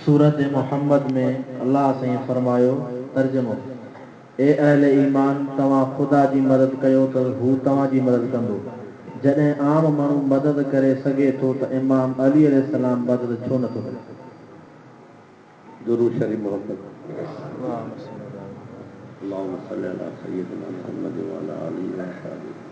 سورت محمد ۾ الله سائين فرمايو، ترجمو، اي اهل ايمان! توهان خدا جي مدد ڪيو ته هو توهان جي مدد ڪندو. جڏهن عام ماڻهو مدد ڪري سگهي ٿو ته امام علي عليه السلام مدد ڇو نٿو ڪري؟ درود شريف محبت اللهم صل علي محمد وعلي آله وصحبه.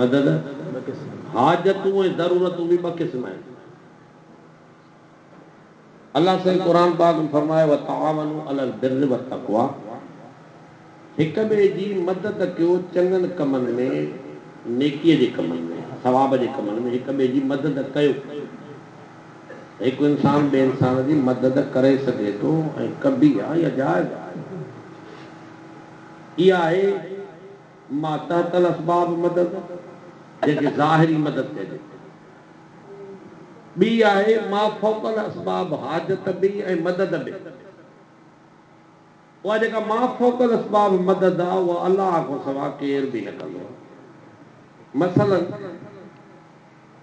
مدد، حاجتون ۽ ضرورتون به ٻه قسم آهن. الله سائين قرآن پاڪ ۾ فرمايو وتعاونوا علي البر والتقويٰ هڪ ٻئي جي مدد ڪيو چڱن ڪمن ۾ نيڪي جي ڪمن ۾ ثواب جي ڪمن ۾ هڪ ٻئي جي مدد ڪيو ته هڪ انسان ٻئي انسان جي مدد ڪري سگهي ٿو ۽ ڪبي آهي يا جائز آهي اها آهي ما تحت الاسباب مدد، جنهن کي ظاهري مدد چئجي ٿو. ٻي آهي ما فوق الاسباب حاجت به ۽ مدد به. اها جيڪا ما فوق الاسباب مدد آ، اها الله کان سوا ڪير به نه ڪندو. مثلاً.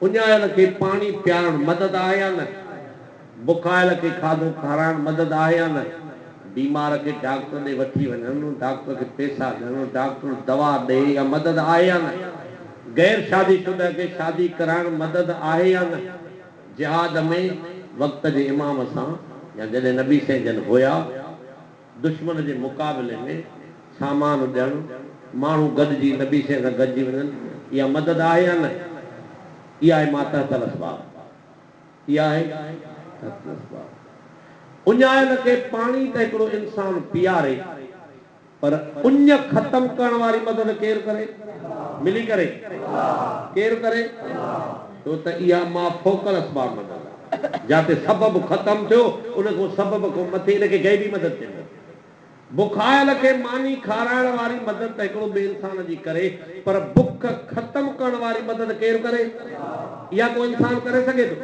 اڃايل کي پاڻي پيارڻ مدد آهي يا نه؟ بکايل کي کاڌو کارائڻ مدد آهي يا نه؟ بيمار کي ڊاڪٽر ڏي وٺي وڃڻ، ڊاڪٽر کي پيسا ڏيڻ، ڊاڪٽر دوا ڏئي اها مدد آهي يا نه؟ غير شادي شده کي شادي ڪرائڻ مدد آهي يا نه؟ جهاد ۾ وقت جي امام سان يا جڏهن نبي سين جن هيا. دشمن جي مقابلي ۾ سامان ڏيڻ، ماڻهو گڏجي نبي سين سان گڏجي وڃن، اها مدد آهي يا نه؟ اها آهي ما تحت الاسباب. اها آهي تحت الاسباب. اڃايل کي پاڻي ته هڪڙو انسان پياري، پر اڃ ختم ڪرڻ واري مدد ڪير ڪري؟ ملي ڪري؟ ڪير ڪري؟ ڇو ته اها ماء فوڪل اسباب مدد آ، جاتي سبب ختم ٿيو، ان کان سبب کان مٿي ان کي غيبي مدد چئبو آ. بکايل کي ماني کارائڻ واري مدد ته هڪڙو ٻئي انسان جي ڪري، پر بک ختم ڪرڻ واري مدد ڪير ڪري؟ اها ڪو انسان ڪري سگهي ٿو؟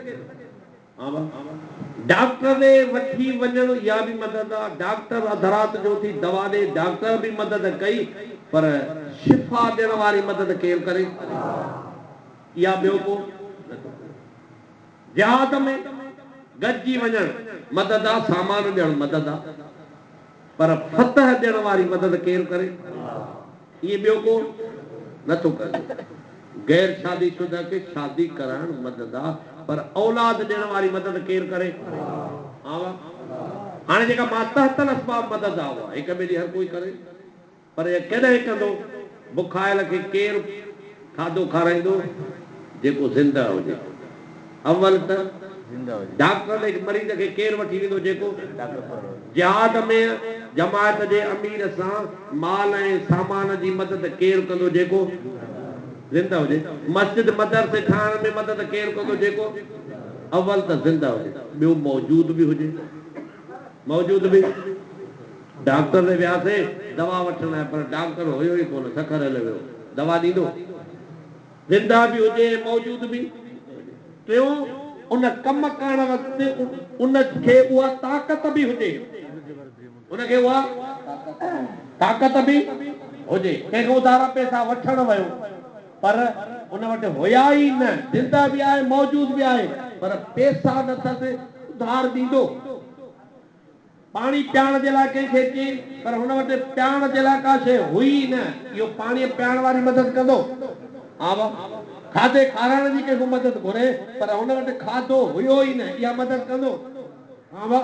ڊاڪٽر ڏي وٺي وڃڻ اها به مدد آ، ڊاڪٽر اڌ رات جو اٿي دوا ڏي، ڊاڪٽر به مدد ڪئي پر شفا ڏيڻ واري مدد ڪير ڪري؟ اها ٻيو ڪو نه ٿو ڪري. جهاد ۾ گڏجي وڃڻ مدد آ، سامان ڏيڻ مدد آ. پر فتح ڏيڻ واري مدد ڪير ڪري؟ ايئن ٻيو ڪو نه ٿو ڪري. غير شادي شده کي شادي ڪرائڻ مدد آ پر اولاد ڏيڻ واري مدد ڪير ڪري؟ آء آ. هاڻي جيڪا ماتحت الاسباب مدد آ اها هڪ ٻئي جي هر ڪوئي ڪري. پر ايئن ڪڏهن ڪندو؟ بکايل کي ڪير کاڌو کارائيندو جيڪو زنده هجي؟ اول ته ڊاڪٽرن هڪ مريض کي ڪير وٺي ويندو جيڪو جهاد ۾ جماعت جي امير سان مال ۽ سامان جي مدد ڪير ڪندو جيڪو زنده هجي؟ مسجد مدرسي ٺاهڻ ۾ مدد ڪير ڪندو جيڪو اول ته زنده هجي ٻيو موجود به هجي موجود به. ڊاڪٽر ڏي وياسي دوا وٺڻ لاء پر ڊاڪٽر هيو ئي ڪونه سکر هليو ويو دوا ڏيندو زنده به هجي ۽ موجود به هجي ٽيون ان ڪم ڪرڻ وقت ان کي اها طاقت به هجي ان کي اها طاقت به هجي ڪنهن کان اڌارا پيسا وٺڻ ويو پر ان وٽ هيا ئي نه زنده به آهي موجود به آهي پر پيسا نه اٿس اڌار ڏيندو. پاڻي پياڻ جي لاء ڪنهن کي چين پر هن وٽ پياڻ جي لاء ڪا شيء هئي ئي نه، اهو پاڻيء پياڻ واري مدد ڪندو؟ آوه، کاڌي کارائڻ جي ڪنهن کان مدد گهري پر هن وٽ کاڌو هيو ئي نه، اها مدد ڪندو؟ آوه،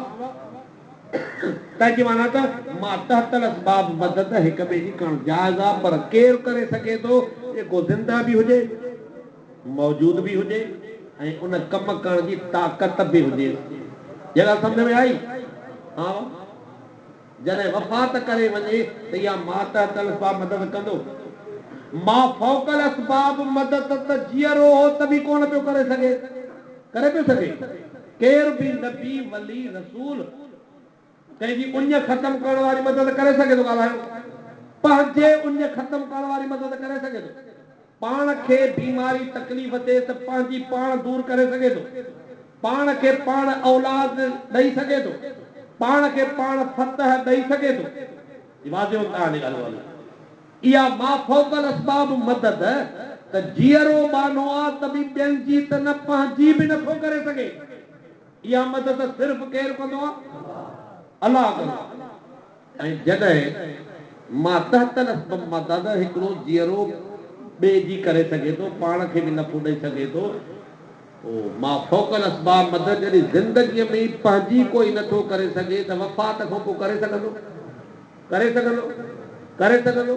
تنهن جي معنيٰ ته ماتحت الاسباب مدد هڪ ٻئي جي ڪرڻ جائز آهي پر ڪير ڪري سگهي ٿو جيڪو زنده به هجي؟ موجود به هجي ۽ ان ڪم ڪرڻ جي طاقت به هجيس. اها ڳالهه سمجهه ۾ آئي؟ ها وا. جڏهن وفات ڪري وڃي ته اها ماتحت الاسباب مدد ڪندو. مافوق الاسباب مدد ته جيئرو هو ته به ڪونه پيو ڪري سگهي. ڪري پيو سگهي؟ ڪير به نبي، ولي، رسول. ڪنهن جي اڃ ختم ڪرڻ واري مدد ڪري سگهي ٿو ڳالهايو پنهنجي اڃ ختم ڪرڻ واري مدد ڪري سگهي ٿو پاڻ کي بيماري تڪليف ڏي ته پنهنجي پاڻ دور ڪري سگهي ٿو پاڻ کي پاڻ اولاد ڏئي سگهي ٿو پاڻ کي پاڻ فتح ڏئي سگهي ٿو جي واضح هن تان جي ڳالهه ڪندو اها مافوق الاسباب مدد ته جيئرو ٻانهو آ ته به ٻين جي ته نه پنهنجي به نه ٿو ڪري سگهي. اها مدد صرف ڪير ڪندو؟ الله ڪندو. ۽ جڏهن مان تحت الاسبب مان دادا هڪڙو جيئرو ٻئي جي ڪري سگهي ٿو، پاڻ کي به نفعو ڏئي سگهي ٿو، پوء مان فوق الاسباب مدد جڏهن زندگيء ۾ ئي پنهنجي ڪوئي نٿو ڪري سگهي ته وفات کان پوء ڪري سگهندو؟ ڪري سگهندو، ڪري سگهندو،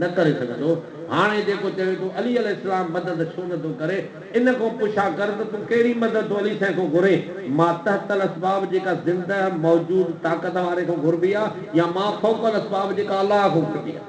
نه ڪري سگهندو، هاڻي جيڪو چوي ٿو علي عليه السلام مدد ڇو نه ٿو ڪري، ان کان پڇا ڪر ته تون ڪهڙي مدد ٿو علي سائين کان گهرين، ماتحت الاسباب جيڪا زنده موجود طاقت واري کان گهربي آ يا ما فوق الاسباب جيڪا الله کان گهربي آ.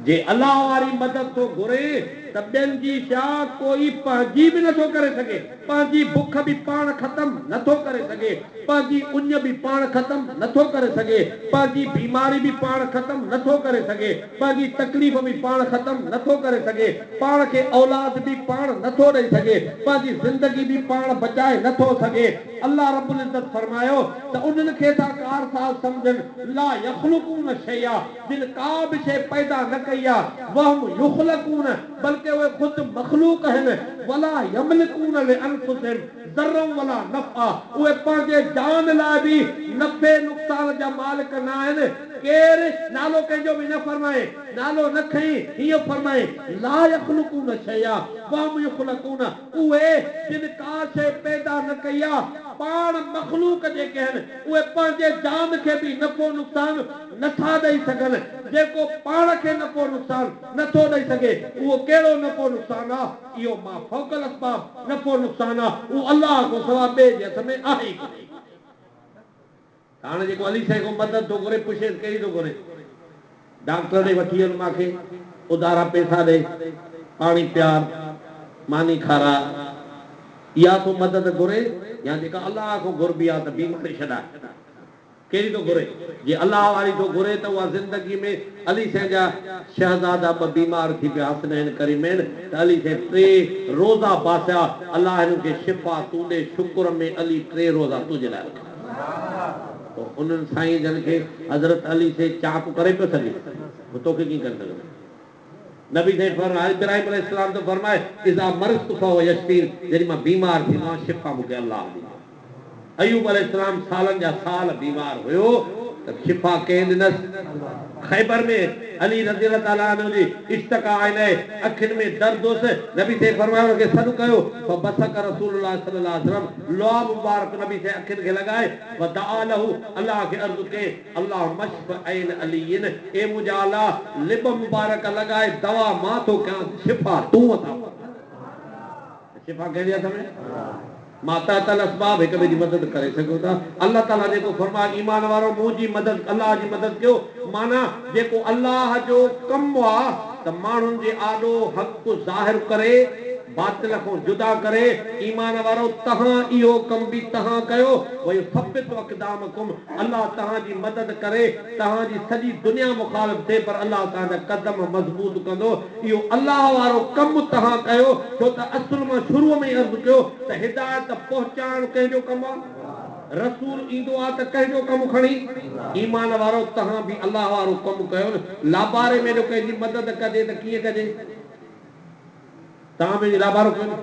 جي الله واري مدد ٿو گهري ته ٻين جي سياء ڪوئي پنهنجي به نٿو ڪري سگهي، پنهنجي بک به پاڻ ختم نٿو ڪري سگهي، پنهنجي اڃ به پاڻ ختم نٿو ڪري سگهي، پنهنجي بيماري به پاڻ ختم نٿو ڪري سگهي، پنهنجي تڪليف به پاڻ ختم نٿو ڪري سگهي، پاڻ کي اولاد به پاڻ نٿو ڏئي سگهي، پنهنجي زندگي به پاڻ بچائي نٿو سگهي. الله رب العزت فرمايو ته انهن کي ٿا ڪارساز سمجهن، لا يخلقون شيئا. جن ڪا به شيء پيدا نه ڪئي آهي، وهم يخلقون، بلڪه اهي خود مخلوق آهن، ولا يملڪون لانفسهم ضرا ولا نفعا، اهي پنهنجي جان لاء به نفعي نقصان جا مالڪ نه آهن، ڪير نالو ڪنهن جو به نه فرمائين، نالو نه کڻين، هيئن فرمائين، لا يخلقون شيئا وهم يخلقون، اهي جن ڪا شيء پيدا نه ڪئي آهي، پاڻ مخلوق جيڪي آهن، اهي پنهنجي جان کي به نفعو نقصان، نه ٿا ڏئي سگهن، جيڪو پاڻ کي نفعو نقصان نه ٿو ڏئي سگهي، اهو ڪهڙو نفعو نقصان آ، اهو ما فوق الاسباب نفعو نقصان آ، اهو الله کان سوا ٻئي جي هٿ ۾ آهي ئي ڪونهي. ته هاڻي جيڪو علي سائين کان مدد ٿو گهري، پڇيس ڪهڙي ٿو گهري؟ ڊاڪٽر ڏي وٺي وڃ مان کي، اڌارا پئسا ڏي، پاڻي پيار، ماني کاراء، اها ٿو مدد گهري يا جيڪا الله کان گهربي آ ته بيماري ڇڏاء. ڪهڙي ٿو گهري؟ جي الله واري ٿو گهري ته اها زندگي ۾ علي سائين جا شهزادا ٻه بيمار ٿي پيا حسنين ڪريمين ته علي سائين ٽي روزا باسيا الله هنن کي شفا تون ڏي شڪر ۾ علي ٽي روزا تنهنجي لاء رکيا تو انهن سائين جن کي حضرت علي سائين چاڪ ڪري پيو سگهي هو توکي ڪيئن ڪري سگهندو. نبي سائين فرمايو آهي ابراهيم عليه السلام ته فرمايو اذا مرضت فهو يشفين جڏهن مان بيمار ٿيندو آهيان شفا مون کي الله ڏيندو آهي ايوب عليه السلام سالن جا سال بيمار هيو ته شفا ڪنهن ڏنس خيبر ۾ علي رضي الله تعالٰي عنه جي اشتڪا عينيه اکين ۾ درد هوس نبي سائين فرمايو ان کي سڏ ڪيو فبصق رسول الله صلي الله عليه وسلم لعاب مبارڪ نبي سائين اکين کي لڳائي ودعا له الله کي عرض ڪئي اللهم اشف عين علين، اي منهنجا الله لب مبارڪ لڳائي دوا مان ٿو ڪيانس شفا تون عطا فرماء. ته شفا ڪنهن جي هٿ ۾ ما تحت الاسباب هڪ ٻئي جي مدد ڪري سگهيون ٿا. الله تعالي جيڪو فرمايو ايمان وارؤ منهنجي مدد الله جي مدد ڪيو معنيٰ جيڪو الله جو ڪم آ ته ماڻهن جي آڏو حق ظاهر ڪري باطل کان جدا ڪري ايمان وارؤ تهان اهو ڪم به تهان ڪيو ويثبت اقدامکم الله توهان جي مدد ڪري، توهان جي سڄي دنيا مخالف ٿئي پر الله توهان جا قدم مضبوط ڪندو، اهو الله وارو ڪم توهان ڪيو، ڇو ته اصل مان شروع ۾ ئي عرض ڪيو ته هدايت پهچائڻ ڪنهن جو ڪم آ؟ رسول ايندو آ ته ڪنهن جو ڪم کڻي؟ ايمان وارؤ توهان به الله وارو ڪم ڪيو نه، لاباري ۾ جو ڪنهن جي مدد ڪجي ته ڪيئن ڪجي؟ توهان به انهي لابارو ڪيو نه.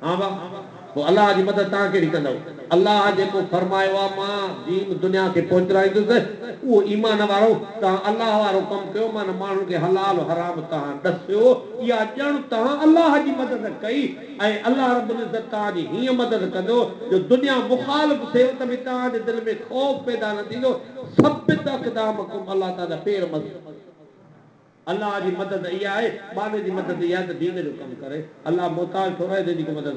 ها واهه! پوء الله جي مدد توهان ڪهڙي ڪندؤ؟ الله جيڪو فرمايو آهي مان دين دنيا کي پهچرائيندس اهو ايمان وارؤ! توهان الله وارو ڪم ڪيو معنيٰ ماڻهن کي حلال و حرام توهان ڏسيو اها ڄڻ توهان الله جي مدد ڪئي ۽ الله رب العزت توهان جي هيئن مدد ڪندو جو دنيا مخالف ٿيو ته به توهان جي دل ۾ خوف پيدا نه ٿيندو ثبت اقدامکم الله توهان جا پير مضبوط الله جي مدد اها آهي، ٻانهي جي مدد اها آهي ته دين جو ڪم ڪري، الله محتاج ٿو رهي جنهن جي ڪو مدد.